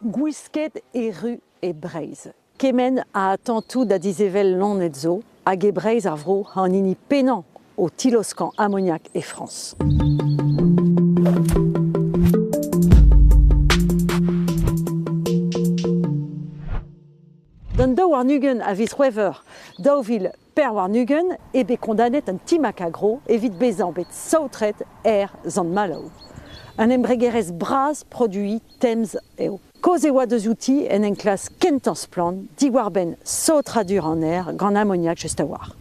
Gwisket erru e Breizh. Kement a atantoù da dizevel loened zo hag e Breizh ar vro an hini pennañ o tiloskañ amoniak e Frañs. D'an daou warn-ugent a viz C'hwevrer daou vil Per warn-ugent eo bet kondanet an Ti Macagro evit bezañ bet saotret er Sant-Maloù. Un embregerezh bras produiñ temz eo. Kaoz e oa deus outi en enklask kentañ splann diwar-benn saotradur an aer gant amoniak just a-walc'h.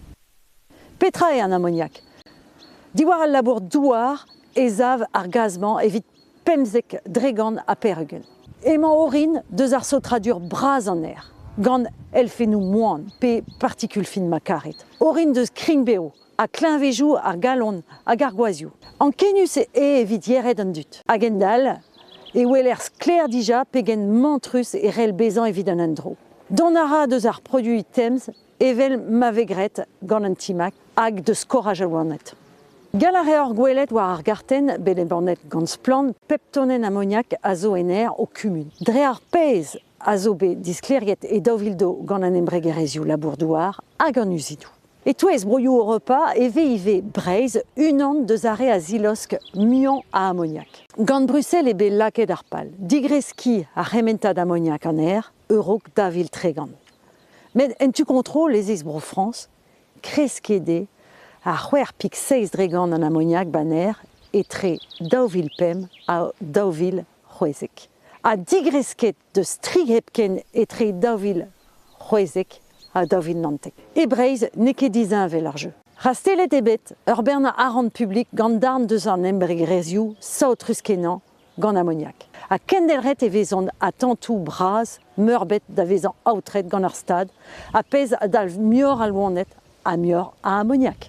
Petra eo an amoniak? Diwar al labour douar e sav ar gaz-mañ evit pemzek dregant ha peregent. Emañ orin deus ar saotradur bras an aer, gant elfennoù moan pe partikul fin ma karit, orin deus krign-bev ha kleñvezoù ar galon hag ar gwazhioù. Ankenius eo evit yered an dud. A-gendall e weler sklaer dija pegen mantrus e c'hell bezañ evit an endro. Dont a ra deus ar produiñ temz evel ma vez graet gant an timag hag deus skoraj al loened. Gall a reor gwelet war ar gartenn bet embannet gant Splann pep tonenn amoniak a zo en aer o kumun. Dre ar pezh a zo bet diskleriet e daou vil do gant an embregerezhioù labour-douar hag an uzidoù. E-touez broioù Europa e vez ivez Breizh unan deus ar re a zilosk muiañ a amoniak. Gant Bruxelles eo bet lakaet ar pal digreskiñ ar c'hementad amoniak an aer e-raok dav vil tregont. Met en tu kontrol ez eus Bro-Frañs, kreskiet eo ar c'hwec'h pik seizh dregant an amoniak baner etre daou vil pemp ha daou vil c'hwezek. Ha digresket deus tri hepken etre daou vil c'hwezek ha daou vil naontek. E Breizh n'eo ket disheñvel ar jeu. Rastellet eo bet ur bern arc'hant publik gant darn deus an embregerezhioù saotrus-kenañ gant amoniak. Ha kendelc'het e vezont atantoù bras meurbet da vezañ aotret gant ar stad, a pezh a dalv muioc'h a loened ha muioc'h a amoniak.